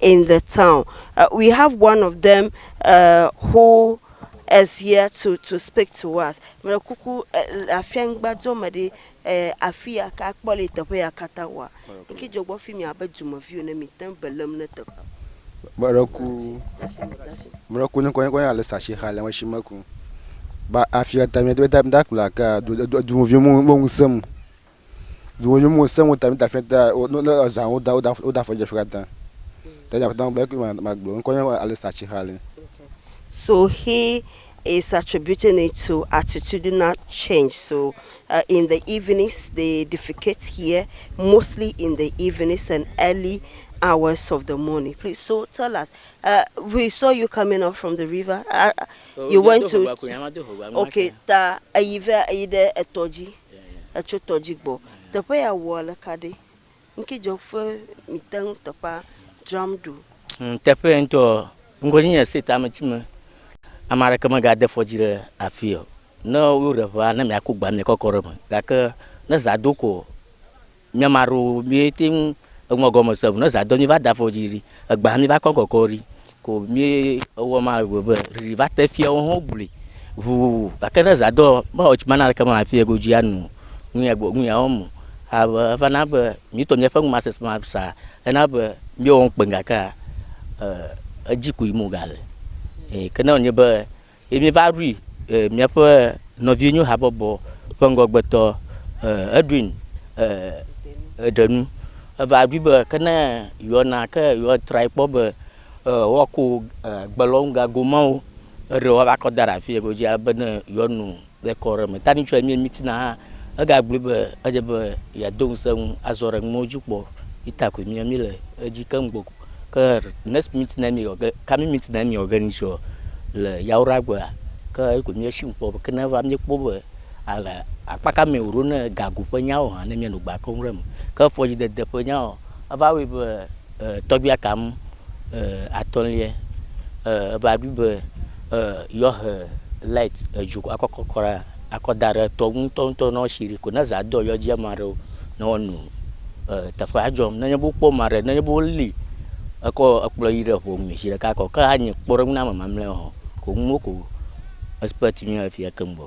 in the town uh, we have one of them uh, who is here to to speak to us mele kuku afia ŋgba dzɔ me ɖi afi ya ka kpɔ le teƒe ya katã wa nki dzɔ gbɔ fi mi abe dumeviwo ne mi te belem ne teƒe meleku meleku ne kɔnye kɔnye ale sashi xa le shi meku ba afia ta mi da kula ka dumeviwo mo mo ŋusem Dziwò yom wò seŋ wota mita fia ta wò no le ɔzã wò da wò da wò da fɔdze fia ta. Ta dza fɔta wò bɛki ma ma gblɔ nkɔ nye Alisa Chihali. So he is attributing it to attitudinal change so uh, in the evenings they defecate here mostly in the evenings and early hours of the morning please so tell us uh, we saw you coming up from the river uh, you went to okay ta eyi vɛ eyi ɖe etɔ dzi. Etso tɔ dzi gbɔ. Teƒe ya wɔ aleka ɖe? Ŋke dzɔ fe mi teŋ teƒa dram ɖo. Ŋ teƒe ye ŋtɔ ɔ, ŋgɔ nyi nye state ame tsi me ame aɖeke me ga de fɔ dzi ɖe afi ɔ. Ne wo ɖe ŋea, ne mia ku gba mia kɔkɔ ɖe me. Gake ne zã do ko ɔ. Mía ma ɖo mí te ŋu eŋɔ gɔme se ŋu ne zã do mí va da fɔ dzi ɖi egbea mí va kɔ gɔkɔ ɖi ko mí ewɔ ma ewɔ be ɖiɖi va te fia wo ho gblui ŋuwuwu gake ne zã do me wɔ tsi ma na ɖeke ma fia go dzi anu nu ya gbɔ nu ya wɔm o abe eva na be mí tɔ mía ƒe ŋu ma sese ma sa ena be mí wɔ ŋkpe gakea e edzi ko yi me wo ga le e ke ne wɔ nyi be. Ye míeva ɖui eh, míaƒe nɔvienyo habɔbɔ ƒe ŋgɔgbetɔ eh, Edwin eh, ɖe nu. Eva ɖui be ke ne yewoana ke yewoatrae kpɔ be eh, woakɔ eh, gbelɔnugago mawo eɖe woava kɔ da ɖe afi yi ke wodzi ale be ne yewoanu Le kɔ aɖe me, Tanichua Emie Mitina hã egagblɔe be edze be yeado ŋusẽ eŋu azɔ ɖe nuwo dzi kpɔ yi ta koe mía míle edzi keŋ gbɔ ko. Ke next meeting Emie wɔ ge, coming meeting Emie wɔ ge ni tsɔ le Yawoɖa gbea, ke eyi koe míesi ŋu kpɔ be ke ne eva míekpɔ be ale akpa ka mee wòɖo ne gago ƒe nyawo hã ne míanɔ gbe keŋ ɖe eme. Ke fɔdzidede ƒe nyawo, eva wɔe be e tɔgbi akam. atɔ̃liɛ, eva bi be yewoahe light edzo akɔ kɔ kɔ ɖe akɔ da ɖe etɔ ŋu ŋutɔŋutɔ nɔ shi ɖe ko ne zã do yewoa dzi ama ɖewo ne woano teƒea dzɔm. Nenye be wokpɔ ma ɖe nenye be woli ekɔ ekplɔ yi ɖe ŋu me zi ɖeka ko ke anye kpɔɖeŋu na ame mamleawo hã ko ŋuwo ko expect mí le fiya keŋgbɔ.